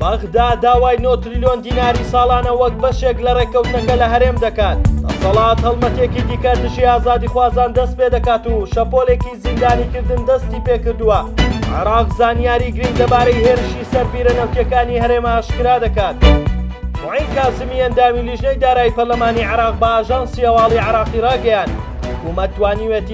بەغدا داوای نۆ تریلیۆن دیناری ساڵانە وەک بەشێک لە ڕێککەوتنەکە لە هەرێم دەکات دەسەڵات هەڵمەتێکی دیکە دژی ئازادی خوازان دەست پێ دەکات و شەپۆلێکی زیندانیکردن دەستی پێکردووە عراق زانیاری گرنگ دەبارەی هێرشی سەر بیرە نەوتەکانی هەرێمە ئاشکرا دەکات. معین کازمی ئەندامی لیژنەی دارایی پەرلەمانی عراق بە ئاژانسی هەواڵی عراقی ڕاگەیاند، حکومەت توانیوێتی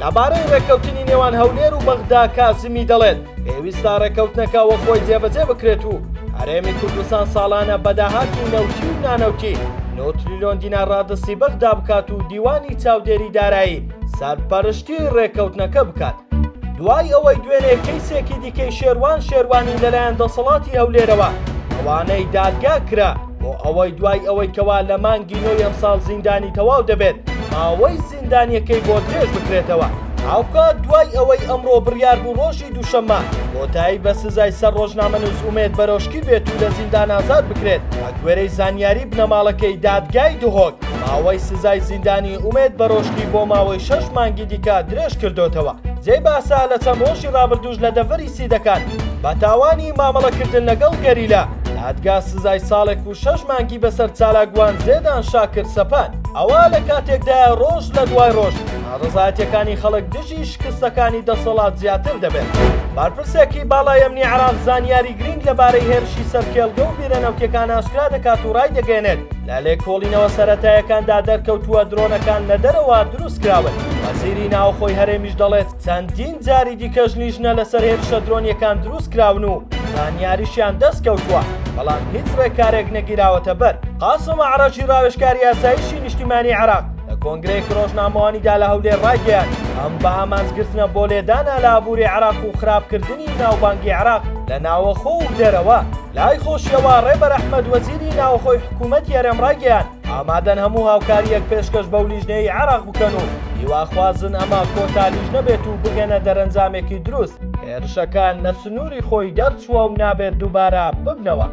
لەبارەی ڕێککەوتنی نێوان هەولێر و بەغدا کازمی دەڵێت، پێویستە ڕێککەوتنەکە وەخۆی جێبەجێ بکرێت و هەرێمی کوردستان ساڵانە بە داهاتی نەوتی و نانەوتی نۆ تریلیۆن دینار ڕادەستی بەغدا بکات و دیوانی چاودێری دارایی سەرپەرشتی ڕێککەوتنەکە بکات. دوای ئەوەی دوێنێ کەیسێکی دیکەی شێروان شێروانی لەلایەن دەسەڵاتی هەولێرەوە ڕەوانەی دادگا کرا، بۆ ئەوەی دوای ئەوەی کەوا لە مانگی نۆی ئەمساڵ زیندانی تەواو دەبێت ماوەی زیندانیەکەی بۆ درێژ بکرێتەوە هاوکات دوای ئەوەی ئەمڕۆ بڕیار بوو ڕۆژی دووشەممە کۆتایی بە سزای سەر ڕۆژنامەنووس ئومێد بەرۆشکی بێت و لە زیندان ئازاد بکرێت بەگوێرەی زانیاری بنەماڵەکەی دادگای دهۆک ماوەی سزای زیندانی ئومێد بەرۆشکی بۆ ماوەی شەش مانگی دیکە درێژ کردوتەوە جێی باسە لە چەند ڕۆژی ڕابردووش لە دەڤەری سیدەکان بە تاوانی مامەڵەکردن لەگەڵ گەریلا دادگا سزای ساڵێک و شەش مانگی بەسەر چالاکوان زێدان شاکر سەپان. ئەوە لە کاتێکدایە ڕۆژ لە دوای ڕۆژ ناڕەزایەتیەکانی خەڵک دژی شکستەکانی دەسەڵات زیاتر دەبێت. بەرپرسێکی باڵای ئەمنی عێراق زانیاری گرینگ لەبارەی هێرشی سەر کێڵگە و بیرە نەوتیەکان ئاشکرا دەکات و ڕایدەگەیەنێت، لە لێکۆڵینەوە سەرەتایەکاندا دەرکەوتووە درۆنەکان لە دەرەوە دروستکراون. وەزیری ناوخۆی هەرێمیش دەڵێت، چەندین جاری دیکەش لیژنە لەسەر هێرشە درۆنیەکان دروست کراون و زانیاریشیان دەست کەوتووە بەڵام هیچ ڕێکارێک نەگیراوەتە بەر قاسم عراجی ڕاوێژکاری یاسایشی نیشتیمانی عراق لە کۆنگرەیەک ڕۆژنامەوانیدا لە هەولێر ڕایگەیان ئەم بە ئامانجگرتنە بۆ لێدانە لە ئابووری عراق و خراپکردنی ناوبانگی عراق لە ناوەخۆ و دەرەوە لای خۆشیەوە ڕێبەر ئەحمەد وەزیری ناوەخۆی حکوومەتی هەرێم ڕایگەیان ئامادەن هەموو هاوکارییەک پێشکەش بەو لیژنەی عێراق بکەن و هیواخوازن ئەمە کۆتا لیژنە بێت و بگەنە دەرەنجامێکی دروست. هێرشەکە لە سنووری خۆی دەرچووە و نابێت دووبارە ببنەوە.